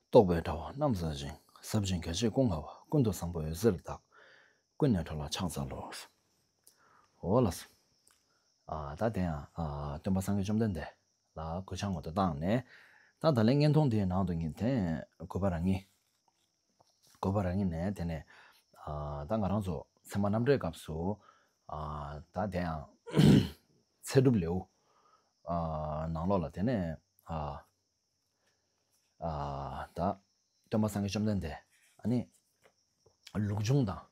རྟོག་པའི་དྲ་བ་རྣམས་ཟ་ཅིང་ཟབ་ཅིང་གལ་ཆེ་ཀུན་དགའ་བ་ཀུན་ཏུ་བཟང་པོ་འོད་ཟེར་བདག་ཀུན་ནས་འཕྲོ་ལ་ཕྱག་འཚལ་ལོ། འོ་ལ། ད་དེ་ཡང་སྟོན་པ་སངས་རྒྱས་བཅོམ་ལྡན་འདས་ལ་གོས་ཕྱག་མངོན་དུ་བཏང་ནས། ད་ད་ལན་བརྔན་ཐུང་དེའི་ནང་དུ་ངེས་དེ་གོས་པ་རང་ངེས། བཀོད་པ་རང་ཉིད་ནས་དེ་ནས་ད་ང་རང་ཚོ་ཚད་མ་རྣམ་འགྲེལ་སྐབས་སུ་ད་དེ་ཡང་ཚད་གྲུབ་ལེའུ་ནང་ལོགས་ལ་དེ་ནས་ད་སྟོན་པ་སངས་རྒྱས་བཅོམ་ལྡན་འདས་ནི་ལུགས་འབྱུང་དང།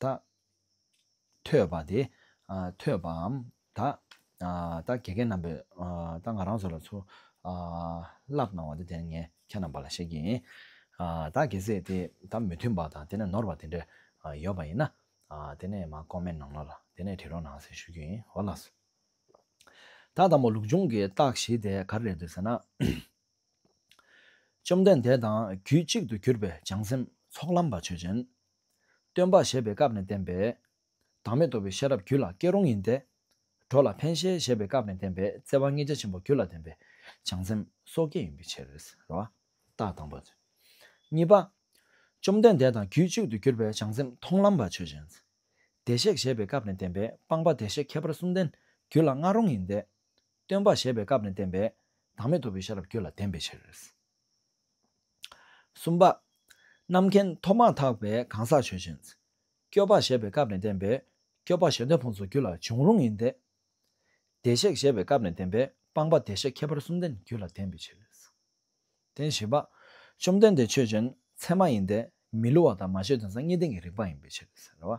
ད། ཐོས་པ་དེ། ཐོས་པའམ། ད། ད་གེ་གེ་རྣམ་པས། ད་ང་རང་ཚོ་ལ་ཚུར། བསླབ་གནང་བ་དེ་དེ་ངས་ཁྱེད་རྣམས་པ་ལ་བཤད་ཀྱི་ཡིན། ད་གེ་ཟེ་དེ་ད་མི་མཐུན་པ་དང་དེ་ནས་ནོར་བ་དེ་འདྲ། ཡོད་པ་ཡིན་ན། དེ་ནས་མ་ཀོ་མེན་གནང་ལ་ལ་དེ་ནས་བྲིས་རོགས་གནང་ཟེར་ཞུ་རྒྱུ་ཡིན་ཧོ་ལགས། ད་དང་པོ་ལུགས་འབྱུང་གི་རྟགས་བཞི་དེ་ག་རེ་རེད་འདོད་ཟེར་ན། བཅོམ་ལྡན་འདས་དང་རྒྱུད་གཅིག་ཏུ་གྱུར་པའི་བྱང་སེམས་ཚོགས་ལམ་པ་ཆོས་ཅན། སྟོན་པ་བཞད་པའི་སྐབས་ནས་བསྟན་པས། བདག་མེད་རྟོགས་པའི་ཤེས་རབ་རྒྱུད་ལ་སྐྱེ་རུང་ཡིན་ཏེ། གྲོགས་ལ་ཕན་བཞེད་བཞད་པའི་སྐབས་ནས་བསྟན་པས་བརྩེ་བ་ལྔས་རྒྱ་ཆེན་པོ་རྒྱུད་ལ་ལྡན་པས་བྱང་སེམས་སོ་སྐྱེ་ཡིན་པའི་ཕྱིར། རྟགས་དང་པོ། གཉིས་པ། བཅོམ་ལྡན་འདས་དང་རྒྱུད་གཅིག་ཏུ་གྱུར་པའི་བྱང་སེམས་མཐོང་ལམ་པ་ཆོས་ཅན། བདེ་གཤེགས་བཞད་པའི་སྐབས་ནས་བསྟན་པས་སྤངས་པ་བདེ་གཤེགས་ཁྱད་པར་གསུམ་ལྡན་རྒྱུད་ལ་མངའ་རུང་ཡིན་ཏེ། སྟོན་པ་བཞད་པའི་སྐབས་ནས་བསྟན་པས་བདག་མེད་རྟོགས་པའི་ཤེས་རབ་རྒྱུད་ལ་ལྡན་པའི་ཕྱིར། གསུམ་པ། རྣམ་མཁྱེན་ཐོབ་མ་ཐག་པའི་གང་ཟག་ཆོས་ཅན། སྐྱོབ་པ་ཞེས་པའི་སྐབས་ནས་བསྟན་པའི་སྐྱོབ་པ་གཞན་དོན་ཕུང་སོགས་རྒྱུད་ལ་འབྱུང་རུང་ཡིན་ཏེ། བདེ་གཤེགས་ཞེས་པའི་སྐབས་ནས་བསྟན་པའི་སྤངས་པ་བདེ་གཤེགས་ཁྱད་པར་གསུམ་ལྡན་རྒྱུད་ལ་བསྟན་པའི་ཕྱིར། བདེན་བཞི་པ། བཅོམ་ལྡན་འདས་ཆོས་ཅན་ཚད་མ་ཡིན་ཏེ་མི་སླུ་བ་དང་མ་བྱས་དོན་ཟང་ངེ་བསྟན་གྱི་རིགས་པ་ཡིན་པའི་ཕྱིར།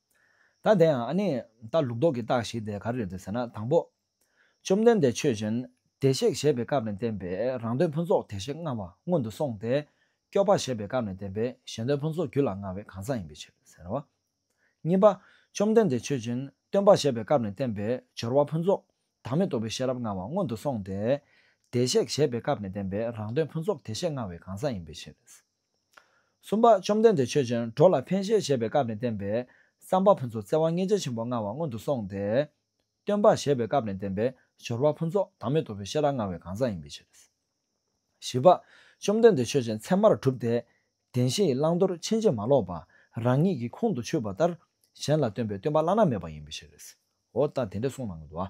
ད་དེ་ཡང་ཨ་ནི་ད་ལུགས་ལྡོག་གི་རྟགས་ཤིག་དེ་ག་རེ་རེད་ཟེར་ན་དང་པོ། བཅོམ་ལྡན་འདས་ཆོས་ཅན་བདེ་གཤེགས་བཞད་པའི་སྐབས་ནས་བསྟན་པའི་རང་དོན་ཕུན་ཚོགས་དེ་བཞི་མངའ་བ་སྔོན་དུ་སོང་སྟེ། སྐྱོབ་པ་བཞད་པའི་སྐབས་ནས་བསྟན་པའི་གཞན་དོན་ཕུན་ཚོགས་རྒྱུད་ལ་མངའ་བའི་གང་ཟག་ཡིན་པའི་ཕྱིར་ཟེར་རོ། གཉིས་པ། བཅོམ་ལྡན་འདས་ཆོས་ཅན་སྟོན་པ་བཞད་པའི་སྐབས་ནས་བསྟན་པའི་སྦྱོར་བ་ཕུན་ཚོགས་བདག་མེད་རྟོགས་པའི་ཤེས་རབ་མངའ་བ་སྔོན་དུ་སོང་སྟེ། བདེ་གཤེགས་བཞད་པའི་སྐབས་ནས་བསྟན་པའི་རང་དོན་ཕུན་ཚོགས་དེ་བཞི་མངའ་བའི་གང་ཟག་ཡིན་པའི་ཕྱིར། གསུམ་པ། བཅོམ་ལྡན་འདས་ཆོས་ཅན་འགྲོ་ལ་ཕན་བཞེད་བྱེད་པའི་སྐབས་ནས་བསྟན་པའི་བསམ་པ་ཕུན་ཚོགས་བརྩེ་བ་མངལ་ཆེ་ཆེན་པོ་མངའ་བ་སྔོན་དུ་སོང་སྟེ། སྟོན་པར་བཞེད་པའི་སྐབས་ནས་བསྟན་པའི་སྦྱོར་བ་ཕུན་ཚོགས་བདག་མེད་རྟོགས་པའི་ཤེས་རབ་མངའ་བའི་གང་ཟག་ཡིན་པའི་ཕྱིར། བཞི་པ། བཅོམ་ལྡན་འདས་ཆོས་ཅན་མཚན་མར་གྲུབ་སྟེ། བདེན་བཞི་ཡི་བླང་དོར་ཕྱིན་ཅི་མ་ལོག་པ་རང་ཉིད་ཀྱི་ཁོང་དུ་ཆུད་པ་ལྟར་གཞན་ལ་སྟོན་པའི་སྟོན་པ་བླ་ན་མེད་པ་ཡིན་པའི་ཕྱིར། འོ་ད་དེ་འདྲའི་གསུངས་གནང་གི་འདུག་ཨ།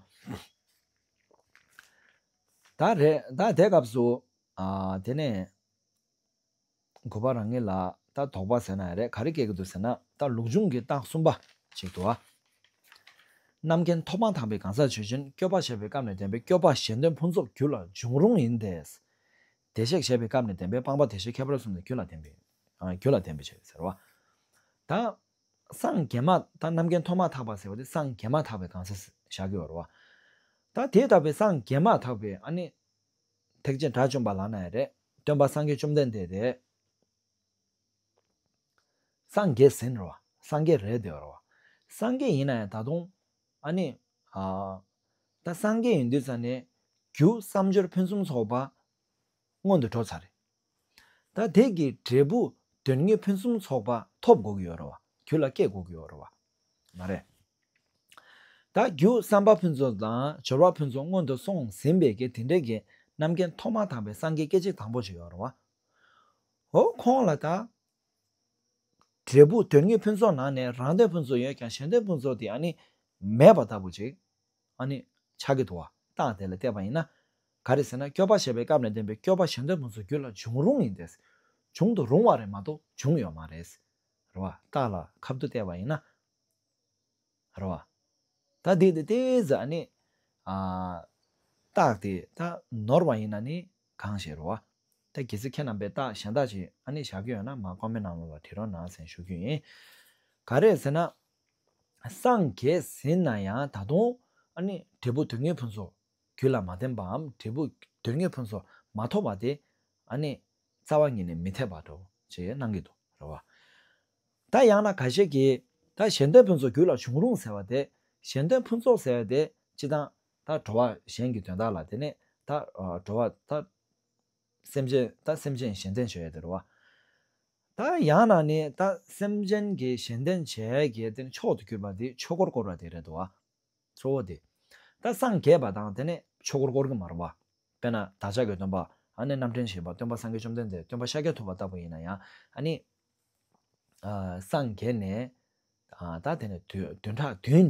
ད་རེད་ད་དེ་སྐབས་སུ། དེ་ནས། དགོས་པ་རང་ངེས་ལ། ད་དོགས་པ་ཟེར་ན་ཡང་རེད་ག་རེ་སྐྱེ་གི་འདུག་ཟེར་ན་ད་ལུགས་འབྱུང་གི་རྟགས་གསུམ་པ་ཞིག་ཏུ། རྣམ་མཁྱེན་མཐོ་སྤང་དག་པའི་གང་ཟག་ཆོས་ཅན་སྐྱོབ་པ་བྱེད་པའི་སྐབས་ནས་བདེན་པའི་སྐྱོབ་པ་གཞན་དོན་ཕུན་ཚོགས་རྒྱུད་ལ་འབྱུང་རུང་ཡིན་ཏེ། བདེ་གཤེགས་བྱེད་པའི་སྐབས་ནས་བདེན་པའི་སྤངས་པ་བདེ་གཤེགས་ཁྱད་པར་གསུམ་ནས་རྒྱུད་ལ་བདེན་པའི་རྒྱུད་ལ་བདེན་པའི་ཕྱིར་ཟེར་བ། ད་སངས་རྒྱས་མ་ད་རྣམ་མཁྱེན་མཐོ་མ་དག་པ་ཟེར་བ་དེ་སངས་རྒྱས་མ་དག་པའི་གང་ཟག་བཞག་གི་ཡོད་རེད་བ། ད་དེ་ལྟ་བུའི་སངས་རྒྱས་མ་དག་པའི་ཨ་ནི། ཐེག་ཆེན་དགྲ་བཅོམ་པ་ལགས་ན་ཡང་རེད། སྟོན་པ་སངས་རྒྱས་བཅོམ་ལྡན་འདས་རེད། སངས་རྒྱས་ཟིན་རོ། སངས་རྒྱས་རེད་དེ་རོ། སངས་རྒྱས་ཡིན་ན་ཡང་ད་དུང། ཨ་ནི། ད་སངས་རྒྱས་ཡིན་དུས་ཙང་ནས། རྒྱུ་བསམ་སྦྱོར་ཕུན་སུམ་ཚོགས་པ། སྔོན་དུ་འགྲོ་ཚར་རེད། ད་དེ་གི་འབྲས་བུ་དོན་གཉིས་ཕུན་སུམ་ཚོགས་པ་ཐོབ་དགོས་ཀྱི་ཡོད་རེད་བ། རྒྱུད་ལ་སྐྱེ་དགོས་ཀྱི་ཡོད་རེད་བ། མ་རེད། ད་རྒྱུ་བསམ་པ་ཕུན་ཚོགས་དང་སྦྱོར་བ་ཕུན་ཚོགས་སྔོན་དུ་སོང་ཟིན་པའི་གི་དེ་འདྲའི་གི་རྣམ་མཁྱེན་ཐོག་མ་དག་པའི་སངས་རྒྱས་སྐད་ཅིག་དང་པོ་ཞིག་ཡོད་རེད་བ། ཧོ་ཁོང་ལ་ད་འབྲས་བུ་དོན་གཉིས་ཕུན་ཚོགས་ནང་ནས་རང་དོན་ཕུན་ཚོགས་ཡོད་ཀྱང་གཞན་དོན་ཕུན་ཚོགས་དེ་ཡང་ནི་མེད་པ་ལྟ་བུ་ཅིག་ཨ་ནི། ཕྱག་གི་དུ་བ་རྟགས་དེ་ལ་བལྟས་པ་ཡིན་ན། ག་རེ་ཟེར་ན་སྐྱོབ་པ་བྱེད་པའི་སྐབས་ནས་བསྟན་པའི་སྐྱོབ་པ་གཞན་དོན་ཕུན་སུམ་རྒྱུད་ལ་འབྱུང་རུང་ཡིན་ཏེ། འབྱུང་དུ་རུང་བ་རེད་མ་གཏོགས་འབྱུང་ཡོད་མ་རེད། རེད་བ། རྟགས་ལ་ཁབ་ཏུ་བལྟས་པ་ཡིན་ན། རེད་བ། ད་དེ་དེ་ལྟའི་ཟེར་ཨ་ནི། རྟགས་དེ་ད་ནོར་བ་ཡིན་ན་ནི་གང་ཞེས་རེད་བ། ད་གལ་སྲིད་ཁྱེད་རྣམ་པས་རྟགས་གཞན་དག་ཅིག་ཨ་ནི་བཞག་གི་ཡོད་ན་མ་ཀོ་མེད་ནང་ལོགས་ལ་དྲི་རོ་ནང་སེང་ཞུ་རྒྱུ་ཡིན། ག་རེ་ཟེར་ན། སངས་རྒྱས་ཟིན་ན་ཡང་ད་དུང། འབྲས་བུ་དོན་གཉེར་ཕུན་སུམ་རྒྱུད་ལ་མ་བརྟེན་པའམ་འབྲས་བུ་དོན་གཉེར་ཕུན་སུམ་མ་ཐོབ་པ་དེ། རྩ་བ་ཉིད་ནས་མི་འཐད་པར་འགྲོ་ཞེས་གནང་གི་འདུག་རེད་བ། ད་ཡང་ན་ག་ཞིག་གིས་ད་གཞན་དོན་ཕུན་སུམ་རྒྱུད་ལ་བྱུང་རུང་ཟེར་བ་དེ། གཞན་དོན་ཕུན་ཚོགས་ཟེར་བ་དེ་སྤྱི་དང། ད་འགྲོ་བ་གཞན་གྱི་དོན་དག་ལ་དེ་ནས་ད་འགྲོ་བ་ད། སེམས་ཅན་དང་སེམས་ཅན་གཞན་བརྟེན་བྱེད་དེར་བ། ད་ཡང་ན་ནི་ད་སེམས་ཅན་གྱི་གཞན་བརྟེན་བྱེད་ཀྱི་དེ་ནི་མཆོག་ཏུ་གྱུར་པ་དེའི་ཆོས་འཁོར་བསྐོར་བ་དེ་རེད་དོ། གཙོ་བོ་དེ་ད་སངས་རྒྱས་པ་དང་དེ་ནི་ཆོས་འཁོར་བསྐོར་གྱི་མ་རུང་བ། དཔེར་ན་བདག་ཅག་གི་སྟོན་པ་ཨ་ནི་རྣམ་འདྲེན་བྱེད་པ་སྟོན་པ་སངས་རྒྱས་བཅོམ་ལྡན་འདས་སྟོན་པ་ཤཱཀྱ་ཐུབ་པ་ལྟ་བུ་ཡིན་ན་ཡང་ཨ་ནི། སངས་རྒྱས་ནས་ད་དེ་ནི་བདུན་ཕྲག་བདུན།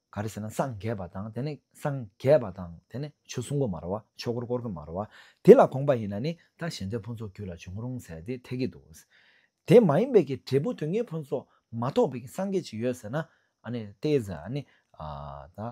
ག་རེ་ཟེར་ན་སངས་རྒྱས་པ་དང་དེ་ནི་སངས་རྒྱས་པ་དང་དེ་ནི་ཆོས་གསུང་གོ་མ་རོ་བ་ཆོས་འཁོར་བསྐོར་གི་མ་རོ་བ་དེ་ལ་དགོངས་པ་ཡིན་ན་ནི་ད་གཞན་དོན་ཕུན་ཚོགས་རྒྱུད་ལ་འབྱུང་རུང་ཟེར་དེ་འཐད་ཀྱི་འདུག། དེ་མ་ཡིན་པའི་ཀྱི་འབྲས་བུ་དུས་ངན་ཕུན་ཚོགས་མ་ཐོགས་པའི་ཀྱི་སངས་རྒྱས་ཅིག་ཡོད་ཟེར་ན་ཨ་ནི་ཏེ་ཟེར་ཨ་ནི་ད་ཨ།